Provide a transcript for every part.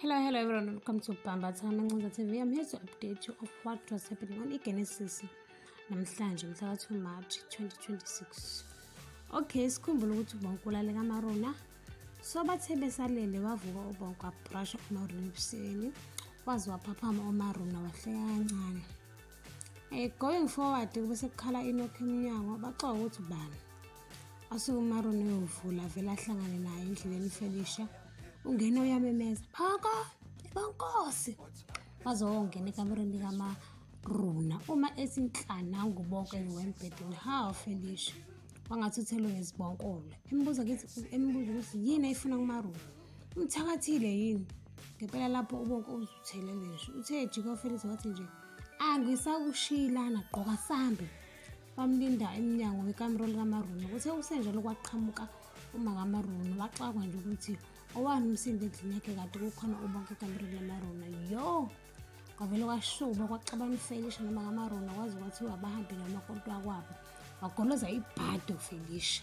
Hello, hello everyone. Welcome to Bamba Time Ncinza TV. I'm here to update you of what was happening on iGenesis namhlanje mhla ka-2 March 2026. Okay, sikhumbula ukuthi ubonke ulaleka amaruna. So bathe besalele wavuka ubonke wabrusha umaruna ebusweni. Waze waphaphama umaruna wahleka kancane. Eh going forward kube sekukhala inokho emnyango baxoka ukuthi ubani. Asuke uMaroni uyovula vele ahlangane naye endleleni uFelisha. Ungena uyamemeza, "Phaka! Bankosi!" Waze wongena ekamereni likaMaruna. Uma ethi nhlana ngubonke wembhedeni, "Hawu Felisha!" Wangathi uthelwe ngezibonkolo. Embuza ukuthi embuza ukuthi yini ayifuna kuMaruna. Umthakathile yini? Ngempela lapho ubonke uzuthelele nje. Uthe ejika uFelisha wathi nje, "Angisakushiyilana, gqoka sambe." bamlinda emnyango wekamero likamaruni kuthe kusenjalo kwaqhamuka uma kamaruni waxakwa nje ukuthi owani umsindo endlini yakhe kade kukhona ubonke ekamereni lamaruna yo kwavele kwashuba kwaxabana ufelisha noma kamaruna kwaze kwathiwa bahambe namakonto akwabo wagoloza ibhadi ufelisha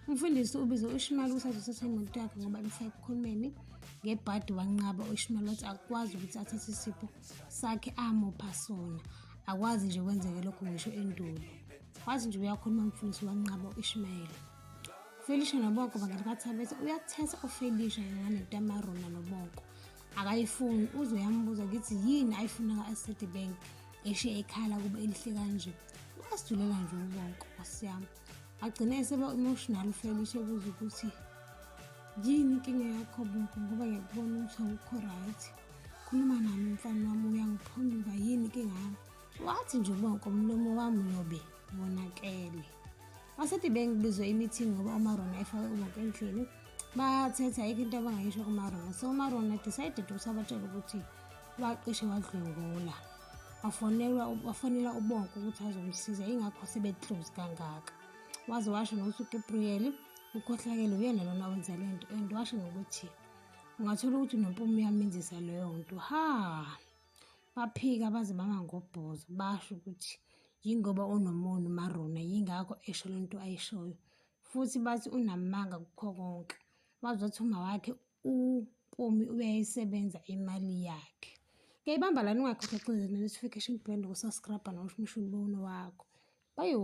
umfundisi ubize uishimali ukuthi azothatha imoto yakhe ngoba imfake ekhulumeni ngebhadi wanqaba uishimali wathi akwazi ukuthi athathe isipho sakhe amupha sona akwazi nje kwenzeke lokho ngisho endulo wazi nje uyakhuluma mfundisi wanqaba u-ishmayeli ufelisha noboko bangani batha bethi uyakuthetha ufelisha nganento yamarona noboko akayifuni uze uyambuza ngithi yini ayifuna ka-asset bank eshiye ekhala kuba elihle kanje uyasidulela nje ubonke nkosi yami agcine eseba-emotional ufelisha ebuza ukuthi yini inkinga yakho bonke ngoba ngiyakubona ukuthi awukho right khuluma nami mfana wami uyangiphonduka yini inkinga yami wathi nje ubonke umlomo wami uyobe wonakele basethi bengibizwe imithi ngoba umarona efake ubonke endlini bathetha ayikho into abangayisho kumarona so umarona decided ukuthi abatshele ukuthi wacishe wadlwengula wafonelwa wafonela ubonke ukuthi azomsiza ingakho sebeclose kangaka waze washo nokuthi ugabriel ukhohlakele uyena lona wenza le nto and washo nokuthi ungathola ukuthi nompumi uyamenzisa leyo nto ha baphika baze bama ngobhoza basho ukuthi yingoba unomona umarona yingakho esho le nto ayishoyo futhi bathi unamanga kukho konke wazothi uma wakhe umpumi uyayisebenza imali yakhe ngiyayibamba lani ungakhohlexile ne-notification bell nokusaskrabha nokushimisha umbono wakho bayo